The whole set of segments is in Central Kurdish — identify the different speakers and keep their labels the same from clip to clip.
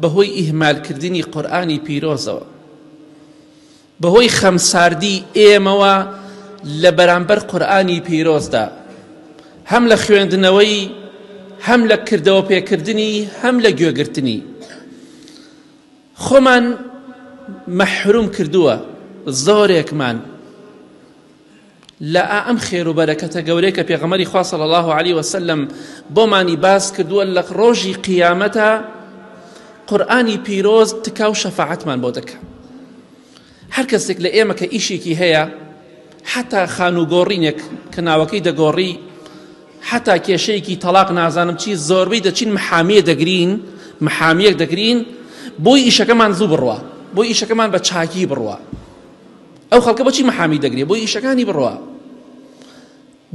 Speaker 1: بەهۆی ئیهمال کردنی قورئانی پیرۆزەوە بەهۆی خەمساردی ئێمەوە لە بەرامبەر قورئانی پیرۆزدا هەم لە خوێندنەوەی هەم لە کردەوە پێکردنی هەم لە گوێگرتنی خۆمان مەحروم کردووە زۆرێکمان لە ئا ئەم خێر و بەرەکەتە گەورەی کە پێغەمەری خوا صلی الله علیه وسلم بۆمانی باس کردووە لە ڕۆژی قیامەتە قورآانی پیرۆز تکا و شەفاعەتمان بۆ دەکە هەر کەسێک لە ئێمە کە ئیشێکی هەیە حتا خان و گۆڕینێک کە ناوەکەی دەگۆڕی حتا کێشەیەکی تەلاق نازانم چی زۆربەی دەچین محامیە دەگرین محامیەک دەگرین بۆی ئیشەکەمان زوو بڕوە بۆ ئیشەکەمان بە چاکی بڕوە ئەو خەڵکە بۆچی محامی دەگرێ بۆی ئیشەکانی بڕوا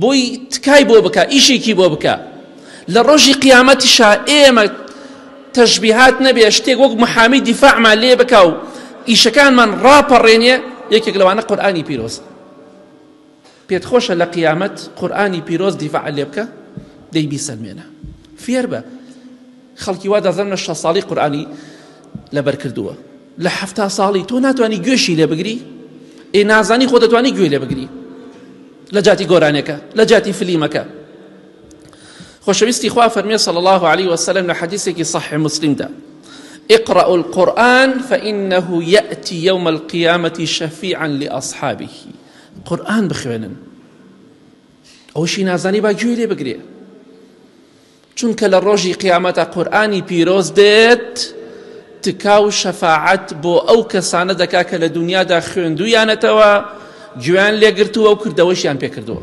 Speaker 1: بۆی تکای بۆ بکە ئیشێکی بۆ بکە لە ڕۆژی قیامەتیشا ئێمە تەشبیهات نەبێ شتێک وەک محامی دیفاعمان لێ بکە و ئیشەکانمان ڕاپەڕێنێ یەکێک لەوانە قورآانی پیرۆز پێت خۆشە لە قیامەت قورئانی پیرۆز دیفاع لێ بکە دەی بیسەلمێنە فێربە خەڵکی وا دەزانن لە شەست ساڵی قورئانی لەبەر کردووە لە حەفتا ساڵی تۆ ناتوانانی گوێشی لێ بگری ئێ نازانی خۆ دەتوانی گوێ لێ بگری لە جاتی گۆرانەکە لە جاتی فلیمەکە خۆشەویستی خوا فەرمێ صلی الله عليه وسلم لە حەدیثێکی صحیح مسلمدا اقرأوا القرآن فإنه يأتي يوم القيامة شفيعا لأصحابه قورئان بخوێنن ئەوشی نازانی با گوێی لێ بگرێ چونکە لە ڕۆژی قیامەتە قورآانی پیرۆز دێت تکا و شەفاعەت بۆ ئەو کەسانە دەکا کە لە دنیادا خوێندویانەتەوە گوێیان لێگرتووە و کردەوەشیان پێکردووە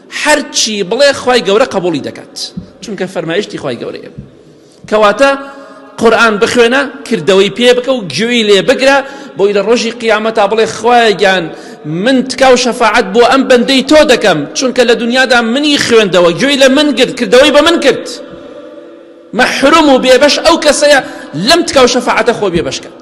Speaker 1: هەرچی بڵێ خوای گەورە قبولی دەکات چونکە فەرمایشتی خوای گەورەیە کەواتە قورآن بخوێنە کردەوەی پێ بکە و گوێی لێ بگرە بۆی لە ڕۆژی قیامەتا بڵێ خوایگیان من تکاو شەفاعت بۆ ئەم بەندەی تۆ دەکەم چونکە لە دنیادا منی خوێندەوە گوێی لە من گرت کردەوەی بە من کرد مەحروم و بێبەش ئەو کەسەیە لەم تکاو شەفاعتە خۆ بێبەش کرد